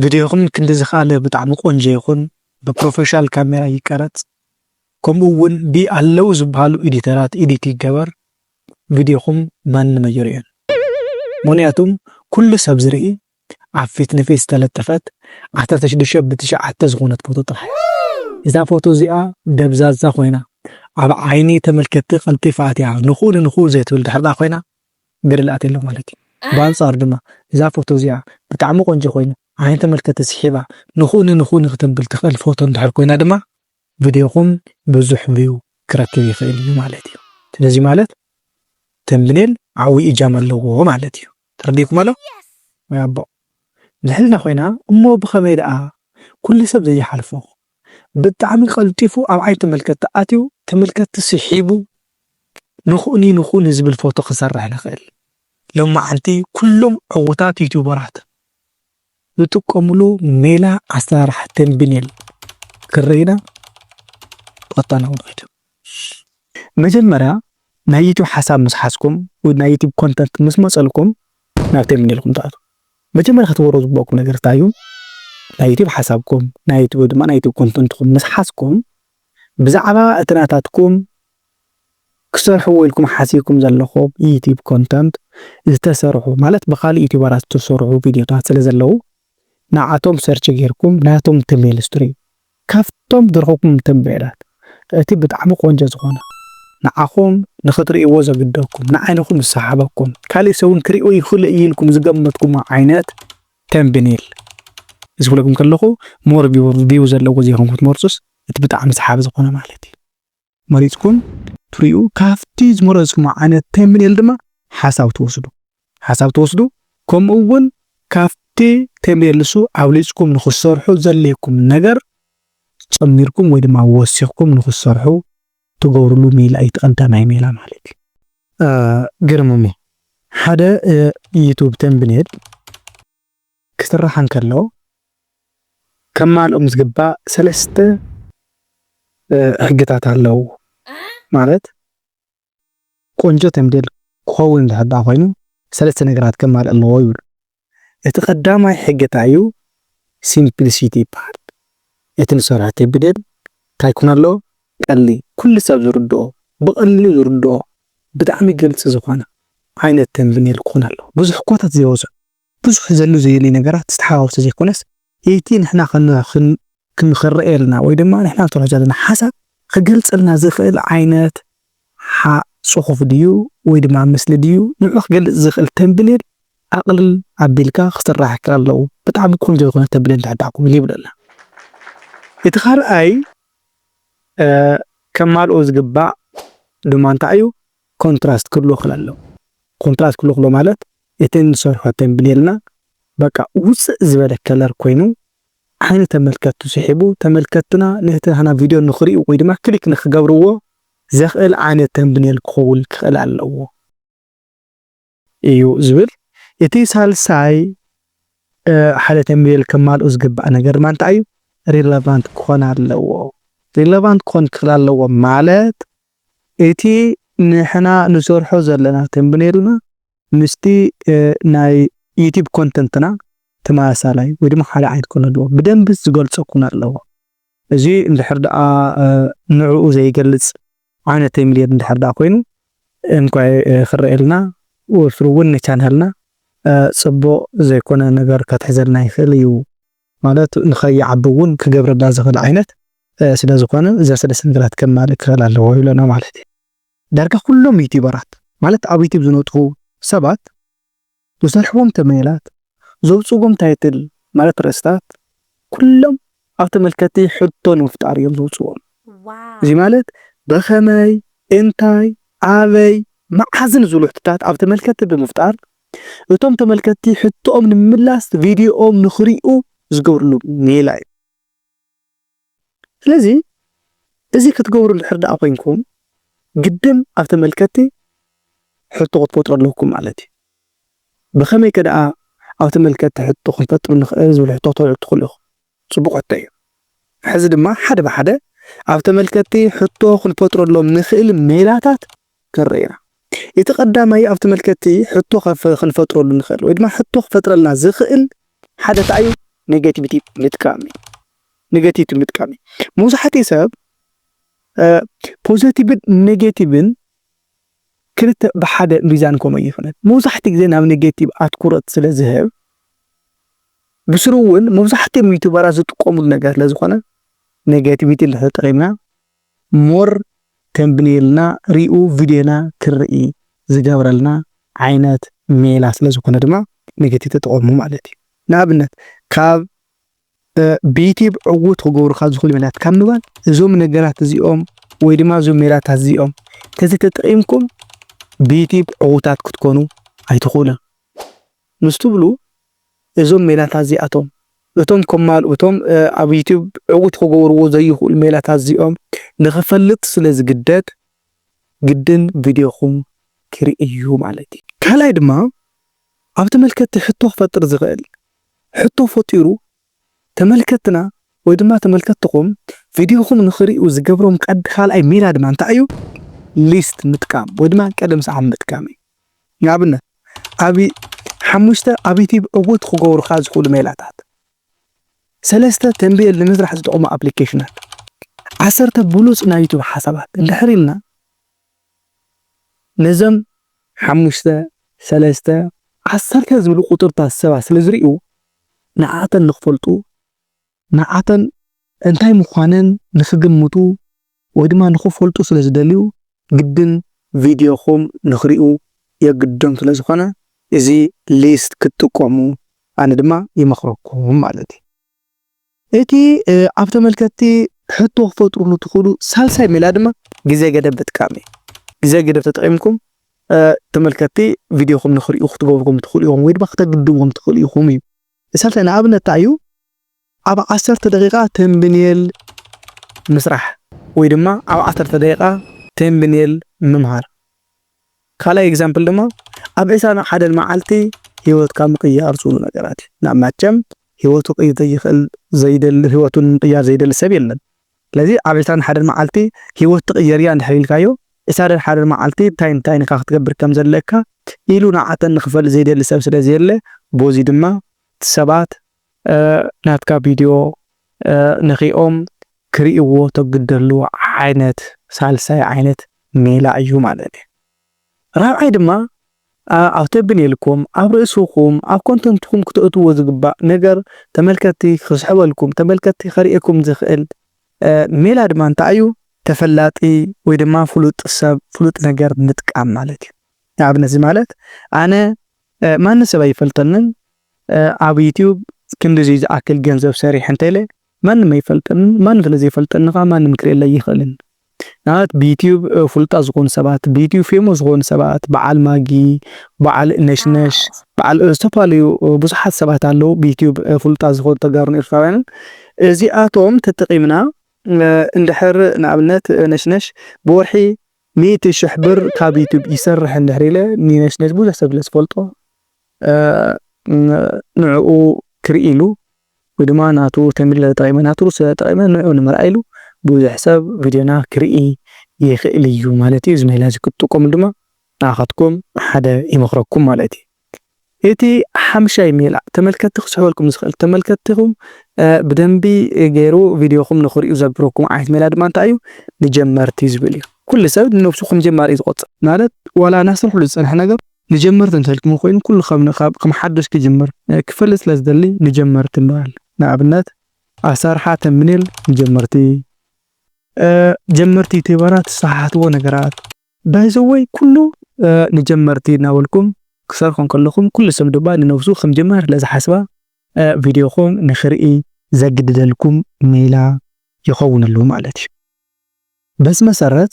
ቭድዮኹም ክንዲ ዝክኣለ ብጣዕሚ ቆንጆ ይኹን ብፕሮፈሻል ካሜራ ይቀረፅ ከምኡ እውን ብ ኣለው ዝበሃሉ ኤዲተራት ኤዲት ይገበር ቭድዮኹም ማንም ኣይሪኦን ምኽንያቱ ኩሉ ሰብ ዝርኢ ኣብ ፊት ንፊት ዝተለጠፈት ዓሰርተ ሽዱሽተ ብ ትሽዓተ ዝኾነት ፎቶ ጥራሕ እያ እዛ ፎቶ እዚኣ ደብዛዛ ኾይና ኣብ ዓይኒ ተመልከትቲ ቀልጢፋ ኣትያ ንኽኡ ንንኽኡ ዘይትብል ድሕሪ ኮይና ገደል ኣትየላ ማለት እዩ ብኣንጻሩ ድማ እዛ ፎቶ እዚኣ ብጣዕሚ ቆንጆ ኮይኑ ዓይኒ ተመልከቲ ስሒባ ንክኡኒ ንክኡኒ ክተብል ትክእል ፎቶ እንድሕር ኮይና ድማ ቪድዮኩም ብዙሕ ቪው ክረክብ ይክእል እዩ ማለት እዩ ስለዚ ማለት ተምብኔል ዓውይ እጃም ኣለዎ ማለት እዩ ተረዲእኩም ኣሎ ወይ ኣቦ ልዕልና ኮይና እሞ ብከመይ ደኣ ኩሉ ሰብ ዘይሓልፎ ብጣዕሚ ቀልጢፉ ኣብ ዓይኒ ተመልከትቲ ኣትዩ ተመልከትቲ ስሒቡ ንኩእኒ ንኩእኒ ዝብል ፎቶ ክሰርሕ ዝክእል ሎማዓንቲ ኩሎም ዕውታት ዩቱበራት ዝጥቀምሉ ሜላ ኣሰራርሓ ተምብኔል ክንርኢ ኢና ብቀጥታ ናብ ንከይድ መጀመርያ ናይ ዩቱብ ሓሳብ ምስ ሓዝኩም ወይ ናይ ዩቱብ ኮንተንት ምስ መፀልኩም ናብ ተምብኔልኩም ትኣትዉ መጀመርያ ክትገብርዎ ዝግበኣኩም ነገር እንታይ እዩ ናይ ዩቱብ ሓሳብኩም ናይ ዩቱብ ወይ ድማ ናይ ዩቱብ ኮንተንትኩም ምስ ሓዝኩም ብዛዕባ እቲ ናታትኩም ክትሰርሕዎ ኢልኩም ሓሲብኩም ዘለኹም ዩቱብ ኮንተንት ዝተሰርሑ ማለት ብካልእ ዩቱበራት ዝተሰርሑ ቪድዮታት ስለ ዘለዉ ንዓኣቶም ሰርች ጌርኩም ናቶም ተመልስቱሪ ካብቶም ዝረኹብኩም ምተንቤላት እቲ ብጣዕሚ ቆንጆ ዝኾነ ንዓኹም ንኽትርእይዎ ዘግደኩም ንዓይንኹም ዝሰሓበኩም ካሊእ ሰብ ውን ክሪኦ ይኽእል'ዩ ኢልኩም ዝገመትኩሞ ዓይነት ተንብኔል ምስ ብለኩም ከለኹ ሞር ቪው ዘለዎ ዘይኮንኩም ትመርጹስ እቲ ብጣዕሚ ሰሓቢ ዝኾነ ማለት እዩ። መሪጽኩም ትሪኡ ካብቲ ዝመረጽኩሞ ዓይነት ተምኔል ድማ ሓሳብ ትወስዱ ሓሳብ ትወስዱ ከምኡ ውን ካብቲ ተምኔል ንሱ ኣብሊጽኩም ንክትሰርሑ ዘድልየኩም ነገር ጨሚርኩም ወይ ድማ ወሲኽኩም ንክትሰርሑ ትገብርሉ ሜላ እዩ እቲ ቀዳማይ ሜላ ማለት እዩ። ግርምሞ ሓደ ዩቱብ ተምብኔል። ክስራሕ እንከሎ ከማልኦም ዝግባእ ሰለስተ ሕግታት ኣለው። ማለት ቆንጆ ተምቤል ክኸውን እንድሕር ደኣ ኮይኑ ሰለስተ ነገራት ከማልእ ኣለዎ ይብሉ። እቲ ቀዳማይ ሕጊ እንታይ እዩ? ሲምፕሊሲቲ ይበሃል። እቲ ንሰርሖ ቴምብዴል እንታይ ክኾን ኣለዎ? ቀሊል፣ ኩሉ ሰብ ዝርድኦ፣ ብቐሊሉ ዝርድኦ፣ ብጣዕሚ ግልፂ ዝኾነ ዓይነት ተምብኔል ክኾን ኣለዎ። ብዙሕ ኮታት ዘይበዝሖ። ብዙሕ ዘሉ ዘዩሊ ነገራት ዝተሓዋወሰ ዘይኮነስ ኢቲ ንሕና ክንክርኤልና ወይ ድማ ንሕና ንተርሖ ዘለና ሓሳብ ክገልጸልና ዝኽእል ዓይነት ሓ ጽሑፍ ድዩ ወይ ድማ ምስሊ ድዩ ንዑ ክገልጽ ዝኽእል ተምብኔል ኣቕልል ኣቢልካ ክስራሕ ከለዉ ብጣዕሚ ቆንጆ ዝኾነ ተምብኔል ንሕዳኩም ይብለና እቲ ካልኣይ ከማልኦ ዝግባእ ድማ እንታይ እዩ ኮንትራስት ክህልዎ ክለሎ ኮንትራስት ክህልዎ ክሎ ማለት እተን ዝሰርሖ ተምብኔልና በቃ ውጽእ ዝበለ ከለር ኮይኑ ዓይኒ ተመልከትቲ ስሒቡ ተመልከትትና ነቲ ናህና ቪድዮ ንኽሪኡ ወይ ድማ ክሊክ ንኽገብርዎ ዘኽእል ዓይነት ተምብኔል ክኸውን ክኽእል ኣለዎ እዩ ዝብል። እቲ ሳልሳይ ሓደ ተምብኔል ከማልኡ ዝግባእ ነገር ድማ እንታይ እዩ? ሪለቫንት ክኾን ኣለዎ። ሪለቫንት ክኾን ክኽእል ኣለዎ ማለት እቲ ንሕና ንሰርሖ ዘለና ተምብኔልና ምስቲ ናይ ዩቲብ ኮንተንትና ተመሳሳላይ ወይ ድማ ሓደ ዓይነት ክኾን ኣለዎ ብደንቢ ዝገልጾ ክኾን ኣለዎ። እዚ እንድሕር ደኣ ንዕኡ ዘይገልጽ ዓይነት ተምብኔል እንድሕር ደኣ ኮይኑ እንኳይ ክረኣየልና ወትሩ ውን ንቻናልና ጽቡቕ ዘይኮነ ነገር ከትሕዘልና ይኽእል እዩ ማለት ንኸይዓቢ ውን ክገብረልና ዝኽእል ዓይነት ስለዝኾነ ዘሰለስለ ነገራት ከማልእ ክኽእል ኣለዎ ይብለና ማለት እዩ። ዳርጋ ኩሎም ዩቲበራት ማለት ኣብ ዩቲብ ዝነጥፉ ሰባት ዝሰርሕዎም ተምኔላት ዘውጽእዎም ታይትል ማለት ርእስታት ኩሎም ኣብ ተመልከቲ ሕቶ ንምፍጣር እዮም ዘውጽእዎም እዚ ማለት ብኸመይ እንታይ ኣበይ መዓዝን ዝብሉ ሕቶታት ኣብ ተመልከቲ ብምፍጣር እቶም ተመልከቲ ሕቶኦም ንምምላስ ቪድዮኦም ንኽሪኡ ዝገብርሉ ሜላ እዩ። ስለዚ እዚ ክትገብሩ እንድሕር ደኣ ኮይንኩም ግድን ኣብ ተመልከትቲ ሕቶ ክትፈጥሩ ኣለኩም ማለት እዩ። ብኸመይ ከ ደኣ ኣብ ተመልከትቲ ሕቶ ክንፈጥር ንኽእል ዝብል ሕቶ ክትወልዑ ትኽእሉ ኢኹም። ጽቡቕ ሕቶ እዩ። ሕዚ ድማ ሓደ ብሓደ ኣብ ተመልከትቲ ሕቶ ክንፈጥረሎም ንኽእል ሜላታት ክንርኢ ኢና። እቲ ቀዳማይ ኣብ ተመልከትቲ ሕቶ ክንፈጥረሉ ንኽእል ወይ ድማ ሕቶ ክፈጥረልና ዝኽእል ሓደ እንታይ እዩ? ነገቲቪቲ ምጥቃም እዩ። ነገቲቪቲ ምጥቃም እዩ። መብዛሕትኡ ሰብ ፖዘቲቭን ኔጌቲቭን ክልተ ብሓደ ሚዛን ከምኡ ኣይኽእልን። መብዛሕትኡ ግዜ ናብ ኔጌቲቭ ኣትኩረት ስለ ዝህብ ብስሩ እውን መብዛሕትኦም ዩቱበራት ዝጥቀሙሉ ነገር ስለ ዝኾነ ኔጌቲቪቲ እንድሕር ተጠቒምና more ተምብኔልና ሪኡ ቪድዮና ክርኢ ዝገብረልና ዓይነት ሜላ ስለ ዝኾነ ድማ ኔጌቲቭ ተጠቐሙ ማለት እዩ። ንኣብነት ካብ ብዩቲብ ዕዉት ክገብሩካ ዝኽእሉ ሜላታት ካብ ምባል እዞም ነገራት እዚኦም ወይ ድማ እዞም ሜላታት እዚኦም ተዘይተጠቒምኩም ብዩቲብ ዕዉታት ክትኮኑ ኣይትኽእሉን። ምስ ትብሉ እዞም ሜላታት እዚኣቶም እቶም ከማልኡ እቶም ኣብ ዩቱብ ዕውት ክገብርዎ ዘይኽእሉ ሜላታት እዚኦም ንኽፈልጥ ስለ ዝግደድ ግድን ቪድዮኹም ክርኢ እዩ ማለት እዩ። ካልኣይ ድማ ኣብ ተመልከትቲ ሕቶ ክፈጥር ዝኽእል ሕቶ ፈጢሩ ተመልከትና ወይ ድማ ተመልከትኹም ቪድዮኹም ንኽሪኡ ዝገብሮም ቀድ ካልኣይ ሜላ ድማ እንታይ እዩ? ሊስት ምጥቃም ወይ ድማ ቀደም ሰዓብ ምጥቃም እዩ። ንኣብነት ኣብ ሓሙሽተ ኣብ ዩቲብ ዕውት ክገብሩኻ ዝኽእሉ ሜላታት፣ ሰለስተ ተንቢኤል ንምስራሕ ዝጠቕሙ ኣፕሊኬሽናት፣ ዓሰርተ ብሉጽ ናይ ዩቱብ ሓሳባት እንድሕር ኢልና ነዞም ሓሙሽተ፣ ሰለስተ፣ ዓሰርተ ዝብሉ ቁጽርታት ሰባት ስለ ዝሪኡ ንዓኣተን ንኽፈልጡ፣ ንዓኣተን እንታይ ምዃነን ንኽግምቱ ወይ ድማ ንኽፈልጡ ስለ ዝደልዩ ግድን ቪድዮኹም ንኽሪኡ የግድዶም ስለ ዝኾነ እዚ ሊስት ክትጥቀሙ ኣነ ድማ ይመኽረኩም ማለት እዩ። እቲ ኣብ ተመልከትቲ ሕቶ ክፈጥሩሉ ትኽእሉ ሳልሳይ ሜላ ድማ ግዜ ገደብ ምጥቃም እዩ። ግዜ ገደብ ተጠቒምኩም ተመልከትቲ ቪድዮኹም ንክሪኡ ክትገብርዎም ትኽእሉ ኢኹም ወይ ድማ ክተግድዎም ትኽእሉ ኢኹም እዩ። ሳልሳይ ንኣብነት እንታይ እዩ? ኣብ ዓሰርተ ደቂቓ ተምብኔል ምስራሕ ወይ ድማ ኣብ ዓሰርተ ደቂቓ ተምብኔል ምምሃር። ካልኣይ ኤግዛምፕል ድማ ኣብ ዕስራን ኣብ ሓደን መዓልቲ ሂወትካ ምቅያር ዝብሉ ነገራት እዩ ናብ ማቸም ሂወቱ ክቅይር ዘይክእል ዘይደሊ ሂወቱ ንምቅያር ዘይደሊ ሰብ የለን ስለዚ ኣብ ዕስራን ሓደን መዓልቲ ሂወት ትቅየር እያ እንድሕር ኢልካዮ ዕስራን ሓደን መዓልቲ እንታይን እንታይን ኢካ ክትገብር ከም ዘለካ ኢሉ ንዓተን ንክፈልጥ ዘይደሊ ሰብ ስለ ዘየለ ቦዚ ድማ ሰባት ናትካ ቪድዮ ንኺኦም ክሪእዎ ተግደሉ ዓይነት ሳልሳይ ዓይነት ሜላ እዩ ማለት እዩ። ራብዓይ ድማ ኣብ ተብኔልኩም፣ ኣብ ርእስኹም፣ ኣብ ኮንተንትኩም ክተእትዎ ዝግባእ ነገር ተመልከቲ ክስሕበልኩም፣ ተመልከቲ ከርእየኩም ዝኽእል ሜላ ድማ እንታይ እዩ? ተፈላጢ ወይ ድማ ፍሉጥ ሰብ፣ ፍሉጥ ነገር ምጥቃም ማለት እዩ። ንኣብነት እዚ ማለት ኣነ ማንም ሰብ ኣይፈልጠንን፣ ኣብ ዩቱብ ክንድዙይ ዝኣክል ገንዘብ ሰሪሐ እንተለ ማንም ኣይፈልጠንን ማንም ስለ ዘይፈልጠኒ ከኣ ማንም ክርእየለይ ኣይኽእልን ንኣብነት ብዩቱብ ፍሉጣት ዝኾኑ ሰባት ብዩቱብ ፌሞስ ዝኾኑ ሰባት በዓል ማጊ በዓል ነሽነሽ በዓል ዝተፈላለዩ ብዙሓት ሰባት ኣለዉ ብዩቱብ ፍሉጣት ዝኾኑ ተጋሩን ኤርትራውያንን እዚኣቶም ተጠቒምና እንድሕር ንኣብነት ነሽነሽ ብወርሒ ሚእቲ ሽሕ ብር ካብ ዩቱብ ይሰርሕ እንድሕር ኢለ ንነሽነሽ ብዙሕ ሰብ ስለ ዝፈልጦ ንዕኡ ክርኢ ኢሉ ወይ ድማ ናቱ ተምብኔል ተጠቒመ ናቱ ርእሲ ተጠቒመ ንዕኡ ንምርኣይ ኢሉ ብዙሕ ሰብ ቪድዮና ክርኢ ይኽእል እዩ ማለት እዩ። እዚ ሜላ እዚ ክትጥቀሙ ድማ ንዓኻትኩም ሓደ ይመኽረኩም ማለት እዩ። እቲ ሓምሻይ ሜላ ተመልከትቲ ክስሕበልኩም ዝኽእል ተመልከትቲኹም ብደንቢ ገይሩ ቪድዮኹም ንኽሪኡ ዘግብረኩም ዓይነት ሜላ ድማ እንታይ እዩ ንጀመርቲ ዝብል እዩ። ኩሉ ሰብ ንነብሱ ከም ጀማሪ እዩ ዝቆጽር ማለት ዋላ እናሰርሕሉ ዝጸንሐ ነገር ንጀመርቲ እንተልክሞ ኮይኑ ኩሉ ከም ከም ሓዱሽ ክጅምር ክፈልጥ ስለ ዝደሊ ንጀመርቲ ንበል ንኣብነት ኣሳርሓ ተምኔል ንጀመርቲ። ጀመርቲ ዩቲበራት ዝሰሓሓትዎ ነገራት። ባይ ዘ ወይ ኩሉ ንጀመርቲ እናበልኩም ክትሰርሑ እንከለኹም ኩሉ ሰብ ድማ ንነብሱ ከም ጀማሪ ስለ ዝሓስባ ቪድዮኹም ንኽርኢ ዘግድደልኩም ሜላ ይኸውን ኣሎ ማለት እዩ። በዚ መሰረት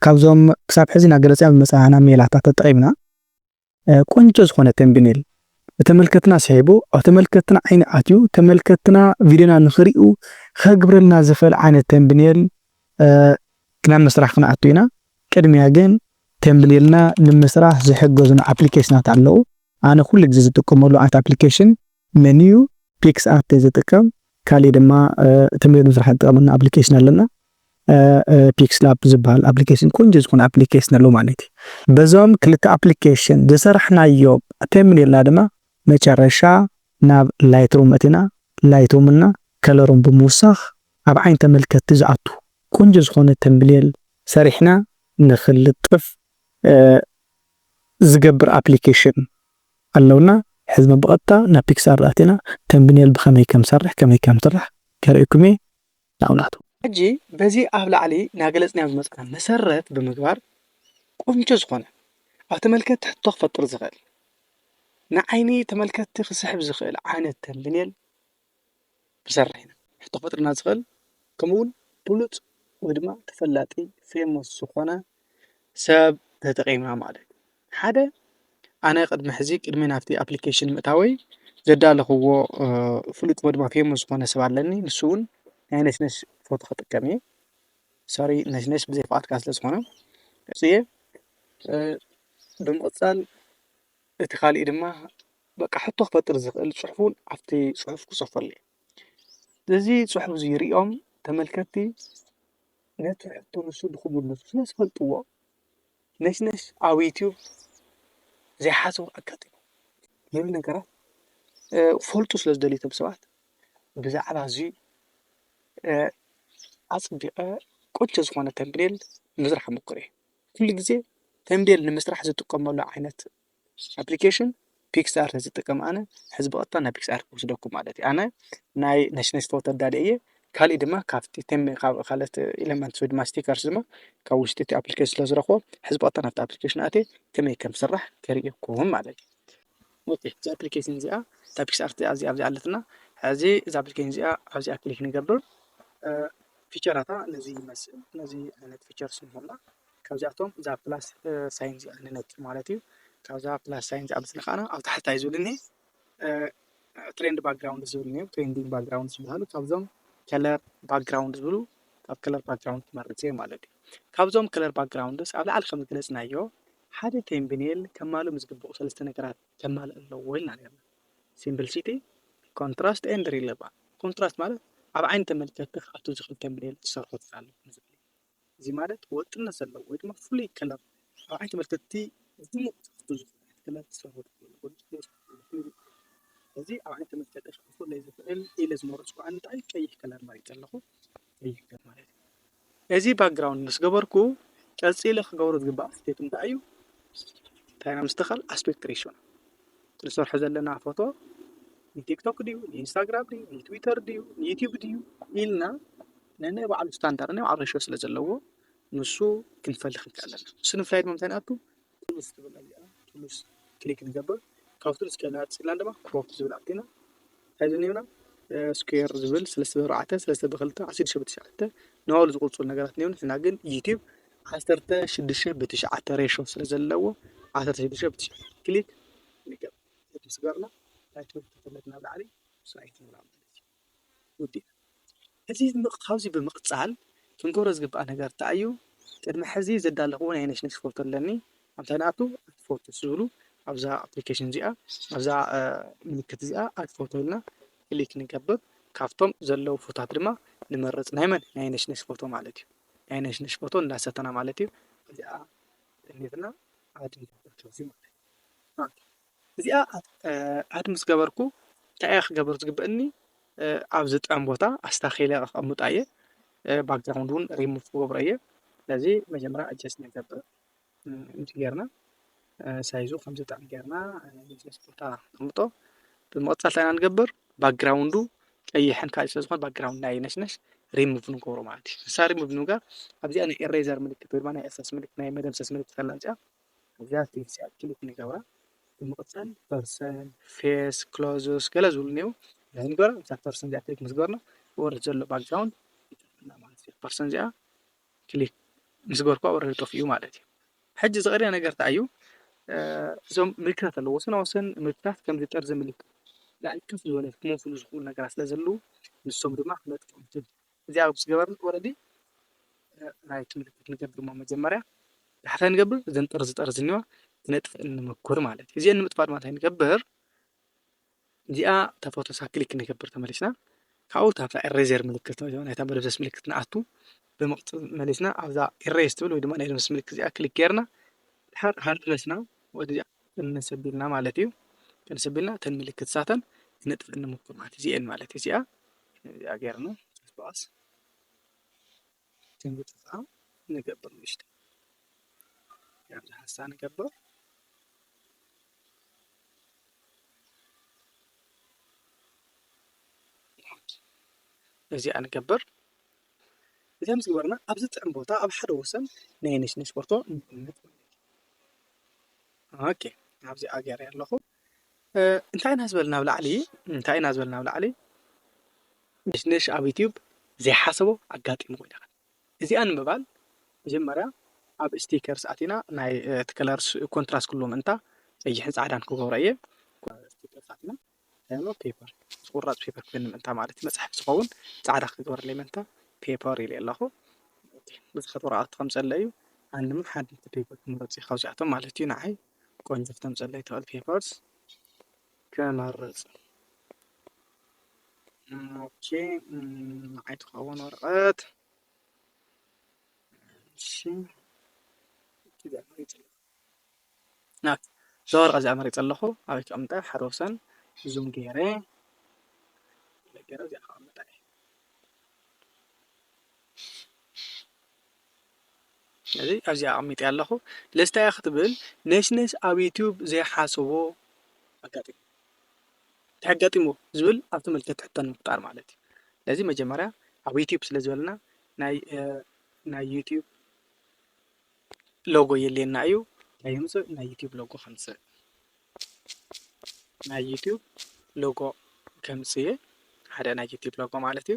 ካብዞም ክሳብ ሕዚ እናገለፅና ዝመፃና ሜላታት ተጠቒምና ቆንጆ ዝኾነ ተምቢኔል ንተመልከትና ስሒቡ ኣብ ተመልከትና ዓይኒ ኣትዩ ተመልከትና ቪድዮና ንኽሪኡ ከግብረልና ዝኽእል ዓይነት ተምቢኔል ናብ ምስራሕ ክንኣቱ ኢና። ቅድሚያ ግን ተምቢኔልና ንምስራሕ ዝሕገዙና ኣፕሊኬሽናት ኣለዉ። ኣነ ኩሉ ግዜ ዝጥቀመሉ ዓይነት ኣፕሊኬሽን መንዩ ፒክስ ኣርት ዝጥቀም ካሊእ ድማ ተምሌት ምስራሕ ዝጠቅመና ኣፕሊኬሽን ኣለና ፒክስ ላብ ዝበሃል ኣፕሊኬሽን ቆንጆ ዝኮነ ኣፕሊኬሽን ኣሎ ማለት እዩ በዞም ክልተ ኣፕሊኬሽን ዝሰራሕናዮ ተምሌልና ድማ መጨረሻ ናብ ላይትሩም መእቲና ላይትሩም እና ከለሩም ብምውሳክ ኣብ ዓይኒ ተመልከቲ ዝኣቱ ቆንጆ ዝኮነ ተምሌል ሰሪሕና ንክልጥፍ ዝገብር ኣፕሊኬሽን ኣለውና ሕዝመ ብቐጥታ ናብ ፒክስኣር ኣቲና ተምብኔል ብኸመይ ከምሰርሕ ከመይ ከምስራሕ ከርእየኩም እየ ናው ናቱ። ሕጂ በዚ ኣብ ላዕሊ ናገለጽናዮ ዝመጸና መሰረት ብምግባር ቁንጮ ዝኾነ ኣብ ተመልከቲ ሕቶ ክፈጥር ዝኽእል ንዓይኒ ተመልከቲ ክስሕብ ዝኽእል ዓይነት ተምብኔል ክንሰርሕ ኢና። ሕቶ ክፈጥረልና ዝኽእል ከምኡ እውን ብሉፅ ወይ ድማ ተፈላጢ ፌመስ ዝኾነ ሰብ ተጠቒምና ማለት እዩ። ሓደ ኣነ ቅድሚ ሕዚ ቅድሚ ናብቲ ኣፕሊኬሽን ምእታወይ ዘዳለኽዎ ፍሉጥ ወይ ድማ ፌመስ ዝኾነ ሰብ ኣለኒ። ንሱ እውን ናይ ነሽነሽ ፎቶ ክጥቀም እየ። ሶሪ ነሽነሽ ብዘይ ፍቓድካ ስለዝኾነ። ብምቕፃል... እቲ ካሊእ ድማ በቃ ሕቶ ክፈጥር ዝኽእል ፅሑፍ እውን ኣብቲ ፅሑፍ ክፅሕፈሉ እየ። እዚ ፅሑፍ እዚ ሪኦም ተመልከትቲ ነቲ ሕቶ ንሱ ንኽምልሱ ስለ ዝፈልጥዎ ነሽነሽ ኣብ ዩቱብ ዘይሓስቡ ኣጋጢሙ ዝብሉ ነገራት ክፈልጡ ስለ ዝደልዩ እቶም ሰባት ብዛዕባ እዚ ኣፅቢቐ ቆንጆ ዝኾነ ተምብኔል ንምስራሕ ይሞክር እየ። ኩሉ ግዜ ተምቤል ንምስራሕ ዝጥቀመሉ ዓይነት ኣፕሊኬሽን ፒክስኣርት እየ ዝጥቀም ኣነ። ሕዚ ብቐጥታ ናብ ፒክስኣርት ክወስደኩም ማለት እዩ። ኣነ ናይ ነሽነሽ ፎቶ ኣዳልየ እየ። ካሊእ ድማ ካብቲ ካብ ካልኦት ኤለመንት ወይ ድማ ስቲከርስ ድማ ካብ ውሽጢ እቲ ኣፕሊኬሽን ስለ ዝረኽቦ ሕዚ ብቐጥታ ናብቲ ኣፕሊኬሽን ኣትየ ከመይ ከም ዝስራሕ ከርእየኩም ማለት እዩ። ኦኬ እዛ ኣፕሊኬሽን እዚኣ እዛ ፒክስኣርት እዚኣ ኣብዚኣ ኣለትና። ሕዚ እዛ ኣፕሊኬሽን እዚኣ ኣብዚኣ ክሊክ ንገብር። ፊቸራታ ነዚ ይመስል ነዚ ዓይነት ፊቸር ስንህላ ካብዚኣቶም እዛ ፕላስ ሳይን እዚኣ ንነኪ ማለት እዩ ካብዛ ፕላስ ሳይን እዚኣ ምስ ነካና ኣብ ታሕታይ ዝብልኒ ትሬንድ ባክግራውንድ ዝብልኒ እዩ ትሬንዲንግ ባክግራውንድ ዝበሃሉ ካብዞም ከለር ባክግራውንድ ዝብሉ ካብ ከለር ባክግራውንድ ክመርፅ እየ ማለት እዩ ካብዞም ከለር ባክግራውንድስ ኣብ ላዕሊ ከም ዝገለፅናዮ ሓደ ቴምብኔል ከማልእ ምስ ግብኡ ሰለስተ ነገራት ከማልእ ኣለዎ ኢልና ነርና ሲምፕልሲቲ ኮንትራስት ኤንድ ሪሌቫን ኮንትራስት ማለት ኣብ ዓይኒ ተመልከቲ ክኣቱ ዝኽእል ተምኔል ትሰርሖ ትኽእል ንዝብል እዩ። እዚ ማለት ወጥነት ዘለዎ ወይ ድማ ፍሉይ ከለር ኣብ ዓይኒ ተመልከቲ ድሙቕ ክኣቱ ዝኽእል ዓይነት ከለር ትሰርሖ ትኽእል እዚ ኣብ ዓይኒ ተመልከቲ ክኣትወለይ ዝኽእል ኢለ ዝመረጽኩ ዓይነት እንታይ ቀይሕ ከለር መሪጸ ኣለኹ። ይርከብ ማለት እዩ። እዚ ባክግራውንድ ምስ ገበርኩ ቀፂለ ክገብሮ ዝግባእ ስቴፕ እንታይ እዩ? እንታይ ኢና ምስትኻል ኣስፔክት ሬሽዮና ንሰርሖ ዘለና ፎቶ ንቲክቶክ ድዩ ንኢንስታግራም ድዩ ንትዊተር ድዩ ንዩቲዩብ ድዩ ኢልና ነናይ ባዕሉ ስታንዳርድ ናይ ባዕሉ ሬሽዮ ስለ ዘለዎ ንሱ ክንፈልኽ ንክእል ኣለና። ንሱ ንምፍላይ ድማ ምንታይ ንኣቱ ቱሉስ ትብል እዚኣ ቱሉስ ክሊክ ንገብር ካብ ቱሉስ ከይና ፅና ድማ ክሮፕ ዝብል ኣቲና እንታይ ዝኒብና ስኩዌር ዝብል ሰለስተ ብኣርባዕተ ሰለስተ ብክልተ ዓሰርተ ሽዱሽተ ብትሽዓተ ንባዕሉ ዝቁፅሩ ነገራት እኒሆ ንሕና ግን ዩቲብ ዓሰርተ ሽዱሽተ ብትሽዓተ ሬሾ ስለ ዘለዎ ዓሰርተ ሽዱሽተ ብትሽዓተ ክሊክ ንገብር እቲ ስገርና ናይ ትምህርቲ ክፍለት ናብ ላዕሊ ስራይት ንብላ ማለት እዩ ወዲኣ። ሕዚ ካብዚ ብምቅጻል ክንገብሮ ዝግባእ ነገር እንታይ እዩ ቅድሚ ሕዚ ዘዳለኽዎ ናይ ነሽነሽ ፎቶ ኣለኒ ኣንታይ ንኣቱ ኣድ ፎቶ ምስ ዝብሉ ኣብዛ ኣፕሊከሽን እዚኣ ኣብዛ ምልክት እዚኣ ኣድ ፎቶ ኢልና ክሊክ ንገብር ካብቶም ዘለዉ ፎቶታት ድማ ንመርጽ ናይ መን ናይ ነሽነሽ ፎቶ ማለት እዩ ናይ ነሽነሽ ፎቶ እንዳሰተና ማለት እዩ እዚኣ ጠሚትና ኣድ ንገብር ካብዚ ማለት እዩ። እዚኣ ኣድ ምስ ገበርኩ እንታይ እየ ክገብር ዝግበእኒ ኣብ ዝጠም ቦታ ኣስታኺለ ከቐምጣ እየ ባክግራውንድ እውን ሪሙቭ ክገብሮ እየ ስለዚ መጀመርያ ኣጀስ ንገብር ከምዚ ጌርና ሳይዙ ከም ዝጠም ጌርና ስ ቦታ ንቕምጦ ብምቕፃል ታይና ንገብር ባክግራውንዱ ቀይሕን ካልእ ስለ ዝኾነ ባክግራውንድ ናይ ነሽነሽ ሪሙቭ ንገብሮ ማለት እዩ ንሳ ሪሙቭ ንምጋር ኣብዚኣ ናይ ኤሬዘር ምልክት ወይ ድማ ናይ እርሳስ ምልክት ናይ መደምሰስ ምልክት ኣላ እዚኣ እዚኣ ትምህርቲ ኣክቲቪቲ ንገብራ ብምቕፃል ፐርሰን ፌስ ክሎዝስ ገለ ዝብሉ እኒው ናይ ንገራ እዛ ፐርሰን እዚኣ ክሊክ ምስ ገበርና ወርድ ዘሎ ባክግራውንድ ይጠፍእና ማለት እዩ ፐርሰን እዚኣ ክሊክ ምስ ገበርኳ ወረድ ጠፍኡ ማለት እዩ ሕጂ ዝቐርያ ነገር እንታይ እዩ እዞም ምልክታት ኣለዎ ወሰና ወሰን ምልክታት ከምዚ ጠርዚ ምልክት ላዕሊ ከፍ ዝበለ ክመፍሉ ዝኽእሉ ነገራት ስለ ዘለዉ ንሶም ድማ ክነጥፍኦም እዚኣ ምስ ገበርና ወለዲ ራይት ምልክት ንገብር እሞ መጀመርያ ዳሕታይ ንገብር እዘን ጥርዚ ጠርዚ እኒዋ ክነጥፍእን ንመኩር ማለት እዩ እዚአን ንምጥፋእ ድማ እንታይ ንገብር እዚኣ እታ ፎቶሳ ክሊክ ንገብር ተመሊስና ካብኡ እታ ኤሬዘር ምልክት ናይታ መደብዘስ ምልክት ንኣቱ ብምቕፅል መሊስና ኣብዛ ኤሬዝ ትብል ወይ ድማ ናይ ደምስ ምልክት እዚኣ ክሊክ ጌርና ድሓር ሃርድነስና ወይ እዚኣ ክንስ ኣቢልና ማለት እዩ ክንስ ኣቢልና እተን ምልክት ሳተን ክነጥፍእ ንሙክር ማለት እዚኤን ማለት እዩ እዚኣ እዚኣ ጌርና ስጳስ ከምዝጠፍኣ ንገብር ንእሽቶ ከምዚ ሓሳ ንገብር እዚኣ ንገብር እዚኣ ምስ ገበርና ኣብዚ ጥዕም ቦታ ኣብ ሓደ ወሰን ናይ ነሽነሽ ቦርቶ ንቕምጥ ኦኬ ኣብዚኣ ገይረያ ኣለኹ እንታይ ኢና ዝበል ናብ ላዕሊ እንታይ ኢና ዝበል ናብ ላዕሊ ነሽነሽ ኣብ ዩትዩብ ዘይሓሰቦ ኣጋጢሙ ኮይነ እዚኣ ንምባል መጀመርያ ኣብ ስቲከርስ ኣቲና ናይ እቲ ከለርስ ኮንትራስ ክህልዎ ምእንታ ቀይሕን ፃዕዳን ክገብሮ እየ ስቲከርስ ኣቲና ኖት ፔፐር ምስ ቁራፅ ፔፐር ክፍለ ምእንታ ማለት እዩ መፅሓፍ ዝኸውን ፃዕዳ ክትገብረለይ ምእንታ ፔፐር ኢለ ኣለኹ ብዝኸት ወረቓቕቲ ከምፀለ እዩ ኣነ ድማ ሓንቲ ፔፐር ክመረፅ እዩ ካብዚኣቶም ማለት እዩ ንዓይ ቆንጆ ክተምፀለይ ትኽእል ፔፐርስ ክመርፅ ኦኬ ንዓይ ትኸውን ወረቐት እሺ እዚኣ ናት እዛ ወረቀት እዚኣ መሪጸ ኣለኩ ኣበይ ከቅምጣ እየ ሓደ ወሰን ዙም ገይረ ገይረ እዚኣ ከቅምጣ እየ እዚ ኣብዚ ኣቀሚጠ ኣለኩ ለስታይ ክትብል ነሽነሽ ኣብ ዩቱብ ዘይሓሰቦ ኣጋጢሙ እንታይ ኣጋጢሙ ዝብል ኣብቲ መልከት ሕቶ ንምፍጣር ማለት እዩ ስለዚ መጀመርያ ኣብ ዩቱብ ስለ ዝበለና ናይ ናይ ዩቱብ ሎጎ የድልየና እዩ። እንታይ የምፅእ ናይ ዩቱብ ሎጎ ከምፅእ ናይ ዩቱብ ሎጎ ከምፅእ እየ ሓደ ናይ ዩቱብ ሎጎ ማለት እዩ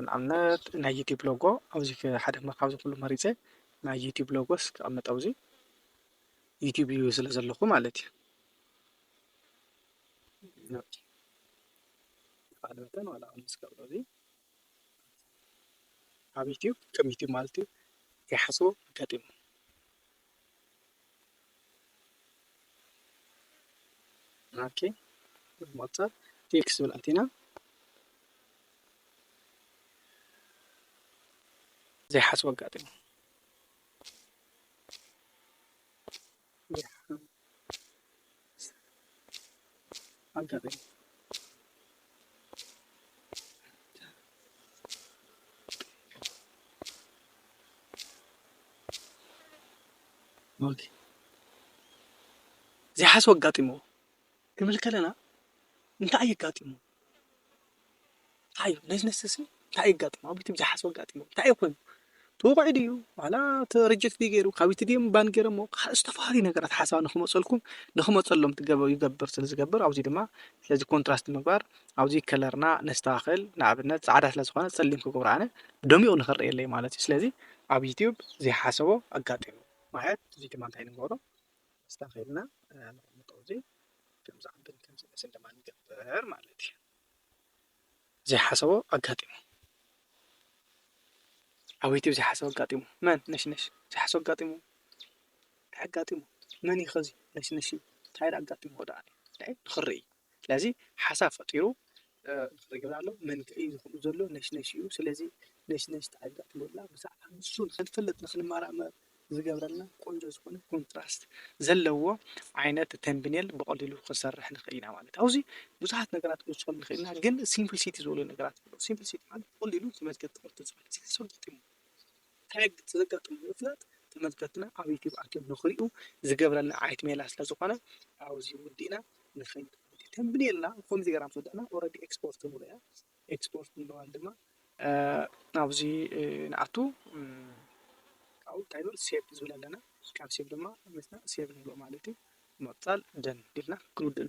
ንኣብነት ናይ ዩቱብ ሎጎ ኣብዚ ሓደ ካብዚ ኩሉ መሪፀ ናይ ዩቱብ ሎጎስ ክቐምጥ ኣብዚ ዩቱብ እዩ ስለ ዘለኹ ማለት እዩ ካልኦትን ዋላ ኣብ ዩቱብ ከም ዩቱብ ማለት እዩ ዘይሓስቦ ኣጋጢሙ። ኦኬ ኣብ ምቕፃል ቴክስ ዝብል ኣቲና ዘይሓስቦ ኣጋጢሙ። ዘይሓስቦ ኣጋጢምዎ ክንብል ከለና እንታይ ኣየጋጢምዎ? እንታይ እዩ ነዝነዝ ዝብል እንታይ እዩ ኣጋጢሙ ኣብ ዩቱብ ዘይሓስቦ ኣጋጢሙ እንታይ እዩ ኮይኑ ተወቒዑ ድዩ ዋላ ሪጀክት ድዩ ገይሩ ካብ ዩቱብ ድዮም ባን ገይሮሞ ካልኦት ዝተፈላለዩ ነገራት ሓሳባት ንክመፅኡልኩም ንክመፀሎም ይገብር ስለ ዝገብር ኣብዚ ድማ ስለዚ ኮንትራስት ምግባር ኣብዚ ከለርና ነስተኻኽል ንኣብነት ፃዕዳ ስለ ዝኾነ ፀሊም ክገብሮ ኣነ ደሚቑ ንክረኣየለይ ማለት እዩ ስለዚ ኣብ ዩቱብ ዘይሓሰቦ ኣጋጢሙ ማለት እዚ ድማ እንታይ ንገብሮ ኣስተኻኺልና ነቕምጦ እዚ ከም ዝዓብን ከም ዝነእስን ድማ ንገብር ማለት እዩ። ዘይሓሰቦ ኣጋጢሙ ዓወይቲ ዘይሓሰቦ ኣጋጢሙ መን ነሽነሽ ዘይሓሰቦ ኣጋጢሙ ኣጋጢሙ መን እዩ ኸዚ ነሽነሽ እንታይ ኣጋጢሙ ወደኣ ንኽርኢ ስለዚ ሓሳብ ፈጢሩ እንታይ ይገብር ኣሎ መንክዒ እዩ ዝኸውን ዘሎ ነሽነሽ እዩ ስለዚ ነሽነሽ እንታይ እያ ትገብር ዘላ ብዛዕባ ንሱ ንኽንፈልጥ ንኽንመራመር ዝገብረና ቆንጆ ዝኾነ ኮንትራስት ዘለዎ ዓይነት ተምብኔል ብቐሊሉ ክንሰርሕ ንኽእል ኢና ማለት ኣብዚ ብዙሓት ነገራት ክንወስከሉ ንኽእል ኢና ግን ሲምፕልሲቲ ዝበሉ ነገራት ኣለዉ ሲምፕልሲቲ ማለት ብቐሊሉ ተመልከቲ ክርቱ ዝብል እዚ ሰልጢሙ እንታይ ብዝገጠሞ ንምፍላጥ ተመልከትና ኣብ ዩቱብ ኣትዮም ንክሪኡ ዝገብረና ዓይነት ሜላ ስለ ዝኮነ ኣብዚ ወዲእና ንከይድ ማለት እዩ። ተምብኔልና ብከምዚ ጌርና ምስ ወዳእና ኦረዲ ኤክስፖርት ትብሎ እያ ኤክስፖርት ንብለዋን ድማ ኣብዚ ንኣቱ ካብኡ እንታይ ንብል ሴቭ ዝብል ኣለና ካብ ሴቭ ድማ መጺና ሴቭ ንብሎ ማለት እዩ። ብምቅጻል ደን ኢልና ክንውድእ ንክእል።